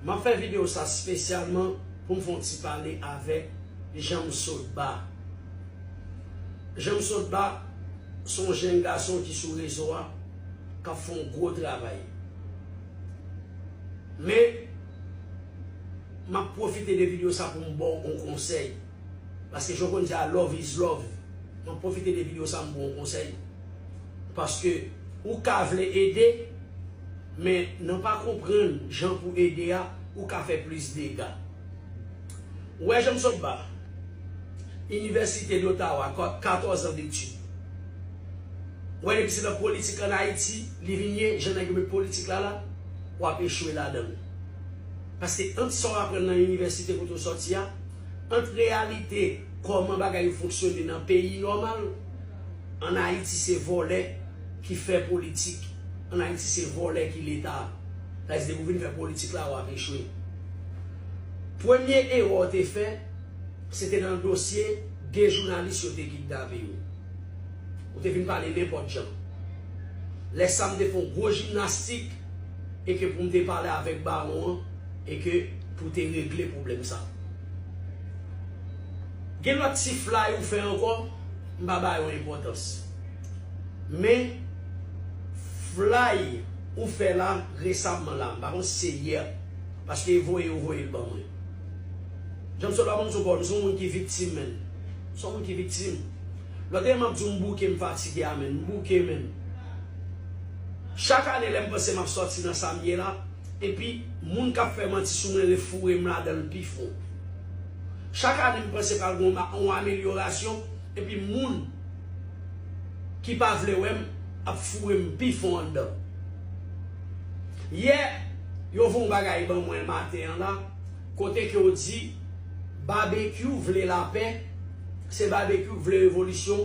Map fè video sa spesyalman poum fon ti pale avek Janmsotba Janmsotba son jenn gason ki sou rezo a kap fon gwo travay men map pwofite de video sa poum baw on konsèy. Paske jan w konn di a love is love Mwen pwofite de video sa m ba w konsèy Paske ou ka vle ede Men nan pa konprann jan pou ede a ou ka fè plis dega Ou wè jan m sot ba Inivèsite Dotawa 14 an detid Ou wè depi se nan politik an Ayiti li vin ye jan nèg yo met politik la la w ap echwe ladan l Paske ant sa w aprann nan inivèsite kote w sòti a ant reyalite kòman bagay yo fonksyone nan peyi nòmal, an Ayiti se vòlè ki fè politik, an Ayiti se vòlè ki leta, sa vle di depi ou vin fè politik la wap echwe. Premye erè w te fè se te nan dosye 2 jounalis yo te kidnape yo. Ou te vin pale nenpòt jan. Lè sa m te fè yon gwo jimnastik e ke pou m te pale avèk bawon an, E ke pou te regle pwoblèm sa. Gen lòt ti flay ou fè ankò, m pa ba yo enpòtans. Men, flay ou fè la resamman la, m pa konn si se yè, paske e voye yo voye l ban mwen. Jan m sot la ban m sou kò, m se yon moun ki viktim menn. M se yon moun ki viktim. Lòt ane m ap di w m bouke, m fatige a menn. M bouke menn. Chak ane lè m panse m ap sòti nan sa m ye la. epi moun k ap fè manti sou mwen refoure m ladan l pi fon. Chak ane m panse pral gen yon amelyorasyon epi moun ki pa vle wè m ap foure m pi fon anndan. Yè, yo voye yon bagay ban mwen maten an la kote ke yo di Babekyou vle lapè, se Babekyou ki vle revolisyon,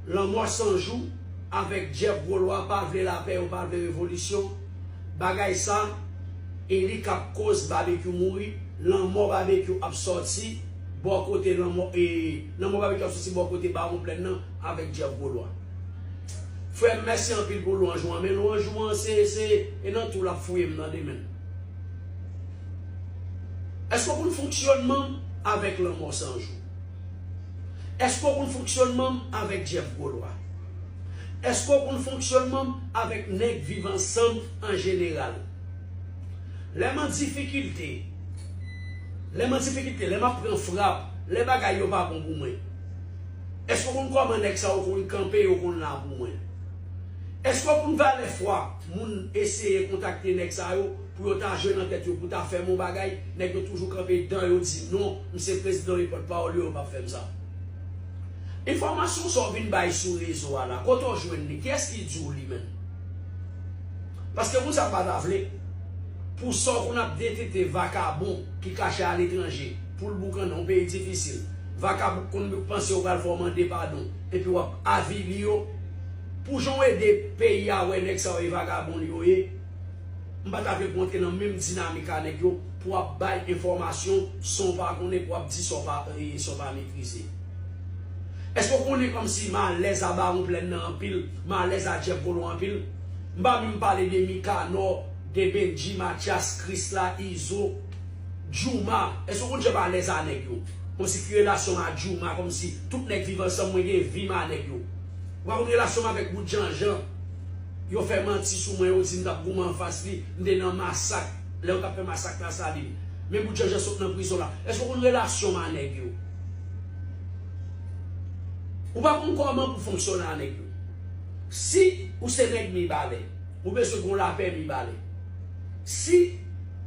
Lanmò 100 jou avèk Jeff Gwo Lwa pa vle lapè, yo pa vle revolisyon. Bagay sa e li kap koz babekyou mouri lanmò babekyou ap sòti bò kote lanmò e lanmò babekyou ap sòti bò kote bawon plèn nan avèk djèf gwo lwa frèm mèsi anpil pou lwanj ou an men lwanj ou an se se e nan tou lap fouyem tande menn èske ou konn fonksyònmanm avèk lanmò sanjou èske ou konn fonksyònmanm avèk djèf gwo lwa. Èske w konn fonksyònman m avèk nèg viv ansanm an jeneral? Lè m an difikilte, lè m an difikilte, lè m ap pran frap, lè bagay yo pa bon pou mwen, èske w konn kòman nèg sa yo konn kanpe, yo konn la pou mwen? Èske w konn valè fwa moun eseye kontakte nèg sa yo pou yo ta jwe nan tèt yo pou ta fè m on bagay, nèg yo toujou kanpe dan yo di non, m se prezidan e pòtpawòl yo, yo p ap fè m sa. Enfòmasyon sa w vin bay sou rezo a la, kote w jwenn li? Kiyès ki di w li menm? Paske moun sa pa ta vle pou sa w konn ap detete vakabon ki kache aletranje pou l boukannen yon peyi difisil. Vakabon konn panse yo pral fè w mande padon epi w ap avili yo pou jan w ede peyi a wè nèg sa yo e vakabon yo ye. M pata vle pou w antre nan menm dinamik a nèg yo pou w ap bay enfòmasyon san w pa konnen pou w ap di sa w pa sa w pa metrize. Èske w konnen kòmsi m alèz a Bawon Plèn nan anpil, m alèz a Jeff Volon anpil? M pa menm pale de Mikanò, de Bendji, Matyas, Krisla, Izo, Djouma. Èske w konn jan m alèz a nèg yo? Kòmsi ki relasyon m a Djouma, kòmsi tout nèg Viv Ansanm mwen gen vi m a nèg yo. Ou pa konn relasyon m avèk Bout Janjan. Yo fè manti sou mwen yo di m tap goumen anfas li, m te nan masak lè yo tap fè masak la salim men bout janjan sot nan prizon la eske ou konn relasyon m a nèg yo ou pa konn kòman pou fonksyone a nèg yo si ou se nèg mibalè ou bezwen gon lapè mibalè si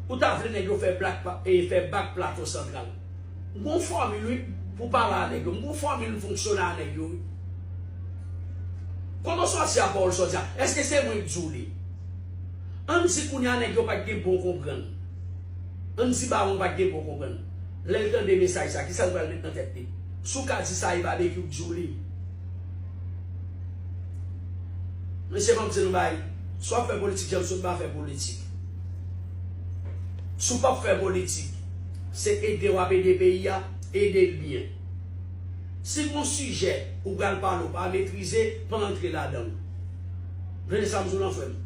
ou ta vle nèg yo fè blak fè bak plato santral. M gon fòmil wi pou pale a nèg yo. M gon fòmil m fonksyone a nèg yo wi. Koman sòsyè a pawòl sòsyè a? Eske se mwen k di w li? An n di kounye a nèg yo pa t gen bon konprann. An n di bawon pa t gen bon konprann. Lè l tande mesaj sa, kisa l pral met nan tèt li? Si w ka di sa e Babekyou k di w li. Mesye m ap di n yon bagay, si w ap fè politik jan m sot m pa fè politik. Si w p ap fè politik. Se ede wap ede peyi a, ede l byen. Si gon sijè ou pral pale ou pa metrize, pa antre ladan l. Tande sa m di w lan frè m.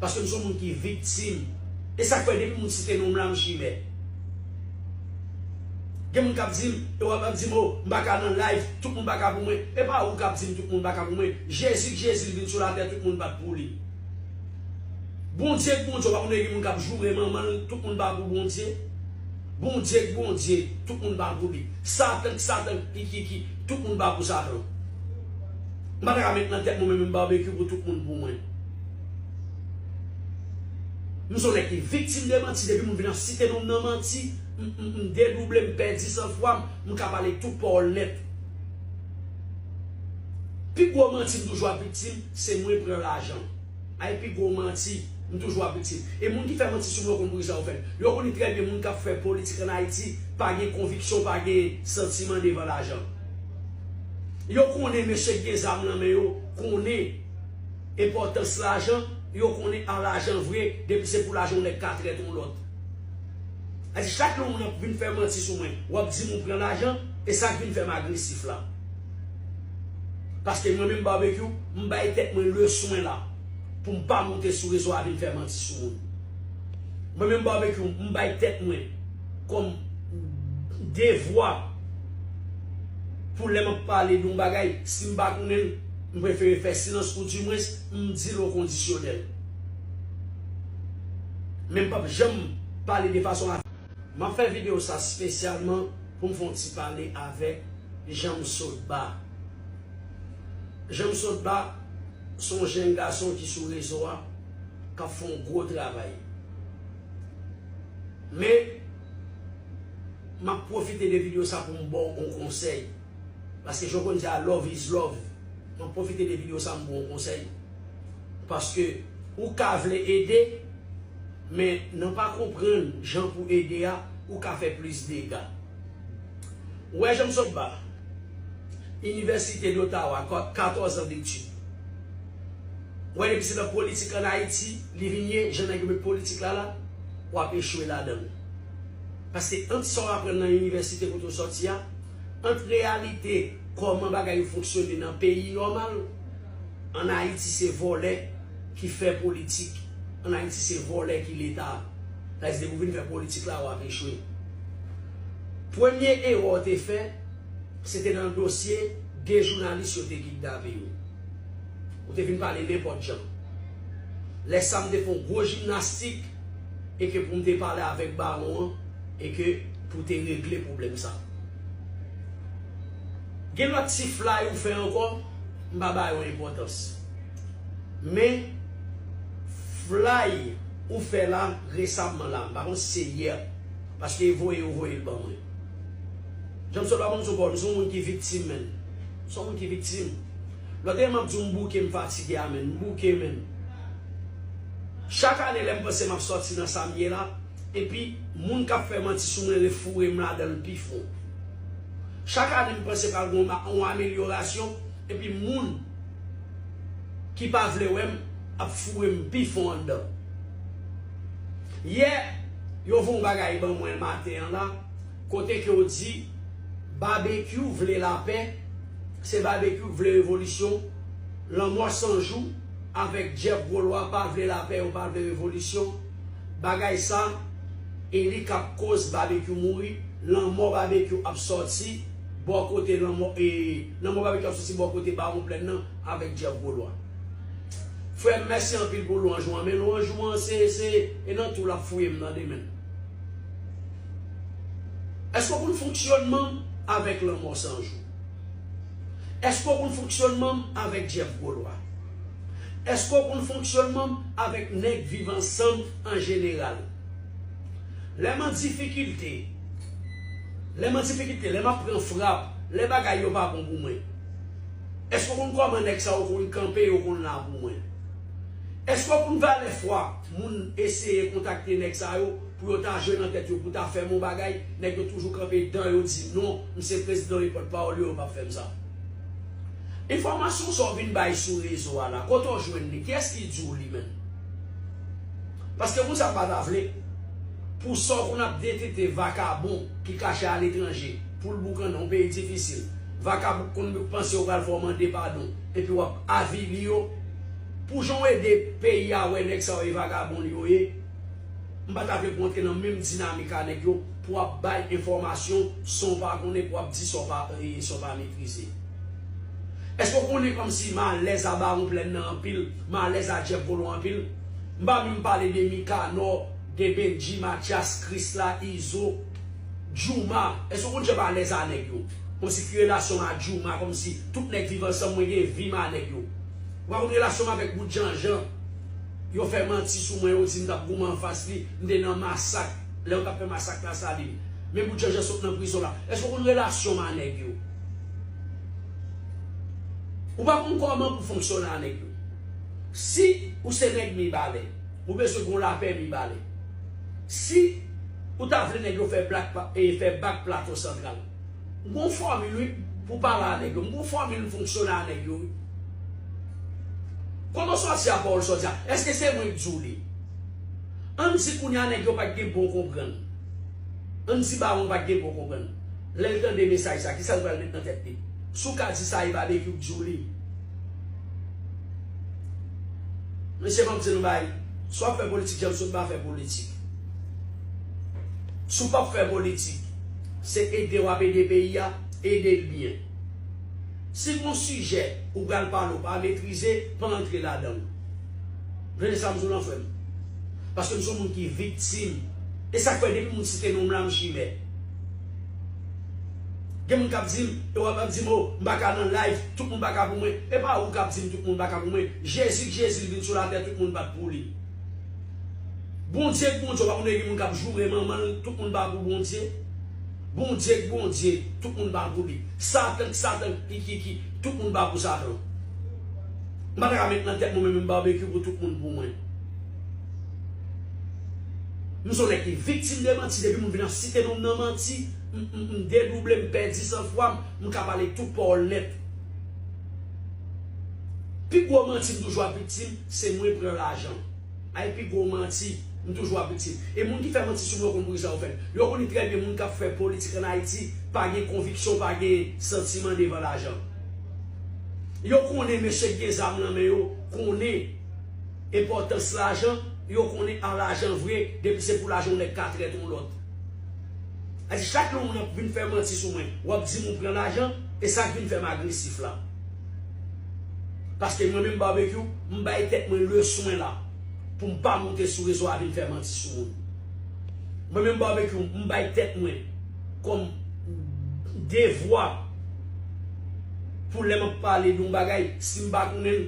Paske m son moun ki viktim. E sak fè depi moun site non m la m chimè. Gen moun kap di m, e wap ap di m oh m pa ka nan live, tout moun pa ka pou mwen. E pa ou kap di m tout moun pa ka pou mwen. Jezi k Jezi l vin sou latè tout moun pat pou li. Bondye k Bondye w pa konn gen moun kap joure manman l tout moun pa pou Bondye Bondye k Bondye tout moun pa pou li satan k satan k kikiki tout moun pa pou satan m pa ta ka met nan tèt mwen menm Barbecue pou tout moun pou mwen m son nèg ki viktim de manti depi moun vin ap site non m nan manti m dedouble m pèdi san fwa m m ka pale tout pawòl nèt pi gwo manti m toujou ap viktim se mwen pran lajan. Ay pi gwo manti, m toujou ap viktim. E moun ki fè manti sou mwen konn poukisa yo fèl. Yo koni trè byen moun kap fè politik an Ayiti pa gen konviksyon pa gen santiman devan lajan. Yo konnen mesye ki gen zam lan men yo konnen enpòtans lajan, yo konnen a lajan vre depi se pou lajan yon nèg ka trèt yon lòt. Ayiti chak lè yon moun ap vin fè manti sou mwen wap dim ou pran lajan, e sak vin fèm agresif la. Paske mwen menm Barbecue, m bay tèt mwen le swen la pou m pa moute sou rezo a vin fè manti sou moun. Mwen menm Barbecue, m bay tèt mwen kòm devwa pou lè m ap pale de yon bagay, si m pa konnen l, m prefere fè silans ou di mwens m di l okondisyonèl. Men m p ap janm pale de fason. Map fè video sa spesyalman poum fon ti pale avek Janmsotba Janmsotba son jenn gason ki sou rezo a kap fon gwo travay men map pwofite de video sa poum baw on konsèy. Paske jan w konn di a love is love Mwen pwofite de video sa m ba w yon konsèy Paske ou ka vle ede Men nan pa konprann jan pou ede a ou ka fè plis dega Ou wè jan m sot ba Inivèsite Dotawa 14 an detid Ou wè depi se nan politik an Ayiti li vin ye jan nèg yo met politik la la w ap echwe ladan l Paske ant sa w aprann nan inivèsite kote w soti a Ant reyalite kòman bagay yo fonksyone nan peyi nòmal, an Ayiti se vòlè ki fè politik, an Ayiti se vòlè ki leta. Sa vle di depi w vin fè politik la w ap echwe. Premye erè w te fè se te nan dosye 2 jounalis yo te kidnape yo. Ou te vin pale nenpòt jan. Lè sa m te fè yon gwo jimnastik e ke pou m te pale avèk bawon an. e ke pou te regle pwoblèm sa. Gen lòt ti flay ou fè ankò, m pa ba yo enpòtans. Men, flay ou fè la resamman la, m pa konn si se yè, paske voye yo voye l ban mwen. Jan m sot la banm sou kò, m se yon moun ki viktim menn. M se yon moun ki viktim. Lòt ane m ap di w m bouke, m fatige a menn. M bouke menn. Chak ane lè m panse m ap sòti nan sa m ye la, Epi moun kap fè manti sou mwen refoure m ladan l pi fon. Chak ane m panse pral gen yon amelyorasyon epi moun ki pa vle wè m ap foure m pi fon anndan. Yè yo voye yon bagay ban mwen maten an la kote ke yo di Babekyou vle lapè, se Babekyou k vle revolisyon, Lanmò 100 jou avèk Jeff Gwo Lwa pa vle lapè yo pa vle revolisyon. Bagay sa e li kap koz babekyou mouri lanmò babekyou ap sòti bò kote lanmò e lanmò babekyou ap sòti bò kote bawon plèn nan avèk jeff golwa frèm mèsi anpil pou lwanj ou an men lwanj ou an se se e nan tou lap fouyem tande menn èske ou konn fonksyònmanm avèk lanmò sanjou èske ou konn fonksyònmanm avèk jeff golwa. Èske w konn fonksyònman m avèk nèg viv ansanm an jeneral? Lè m an difikilte, lè m an difikilte, lè m ap pran frap, lè bagay yo pa bon pou mwen, èske w konn kòman nèg sa yo konn kanpe, yo konn la pou mwen? Èske w konn valè fwa moun eseye kontakte nèg sa yo pou yo ta jwe nan tèt yo pou ta fè m yon bagay, nèg yo toujou kanpe dan yo di non, m se prezidan yo e pòtpawòl yo, yo p ap fè m sa? Enfòmasyon sa w vin bay sou rezo a la, kote w jwenn li? Kiyès ki di w li menm? Paske moun sa pa ta vle pou sa w konn ap detete vakabon ki kache aletranje pou l boukannen yon peyi difisil. Vakabon ki konn panse yo pral fè w mande padon epi w ap avili yo. Pou jan w ede peyi a wè nèg sa yo e vagabon li yo ye, m pa ta vle pou w antre nan menm dinamik a nèg yo pou w ap bay enfòmasyon san w pa konnen, pou w ap di sa w pa metrize. Eske w konnen kòmsi malèz a Bawon Plèn nan anpil, malèz a Jeff Volon anpil? M pa menm pale de Mikanò, de Bendji, Matyas, Krisla, Izo, Djouma. Eske w konn jan m alèz a nèg yo? Kòmsi ki relasyon m a Djouma, kòmsi tout nèg viv ansanm mwen gen vi m a nèg yo. Ou pa konn relasyon m avèk Bout Janjan. Yo fè manti sou mwen, yo di m t ap goumen anfas li, m te nan masak lè yo t ap fè masak Lasalin. Men Bout Janjan sot nan prizon la. Eske w konn relasyon m a nèg yo? Ou pa konn kòman pou fonksyone a nèg yo. Si ou se nèg Mibalè, ou bezwen gon lapè Mibalè. Si ou ta vle nèg yo fè blak e fè bak Plato Santral. M gon fòmil wi pou pale a nèg yo. M gon fòmil fonksyone a nèg yo wi. Kòman sòti a pawòl sòti a? Eske se mwen k di w li? Ann di kounya nèg yo pa t gen bon konprann. Ann di bawon pa t gen bon konprann. Lè l tande mesaj sa, kisa l pral met nan tèt li? Si w ka di sa e Babekyou k di w li. Mesye banm di n bagay, si w ap fè politik jan m sot ba fè politik. Si w pap fè politik, se ede w ap ede peyi a, ede l byen. Si gon sijè ou pral pale ou pa metrize, pa antre ladan l. Tande sa m di w lan frè m. Paske m son moun ki viktim. E sa k fè depi moun site non m la m chimè. Gen moun kap dim e wap ap dim oh m paka nan live tout moun paka pou mwen epa ou kap dim tout moun paka pou mwen jezi k jezi l vin sou latè tout moun pat pou li bondye k bondye w pa konnen gen moun kap joure manman l tout moun pa pou bondye bondye k bondye tout moun pa pou li satan k satan k kikiki tout moun pa pou satan m pata ka met nan tèt mwen menm yon barbecue pou tout moun pou mwen. M son nèg ki viktim de manti depi moun vin ap site non m nan manti m dedouble m pèdi san fwa m m ka pale tout pawòl nèt pi gwo manti m toujou ap viktim se mwen pran lajan ay pi gwo manti m toujou ap viktim e moun ki fè manti sou mwen yo konn poukisa yo fè l yo konnen trè byen moun k ap fè politik an Ayiti pa gen konviksyon pa gen santiman devan lajan yo konnen mesye k gen zam nan men yo konnen. Enpòtans lajan, yo konnen an lajan vre depi se pou lajan yon nèg ka trèt yon lòt. A di chak lè yon moun ap vin fè manti sou mwen, w ap di m ou pran lajan, e sa k vin fè m agresif la. Paske mwen menm Barbecue, m bay tèt mwen leswen la pou m pa moute sou rezo a vin fè manti sou moun. Mwen menm Barbecue, m bay tèt mwen kòm devwa pou lè m ap pale de yon bagay, si m pa konnen l,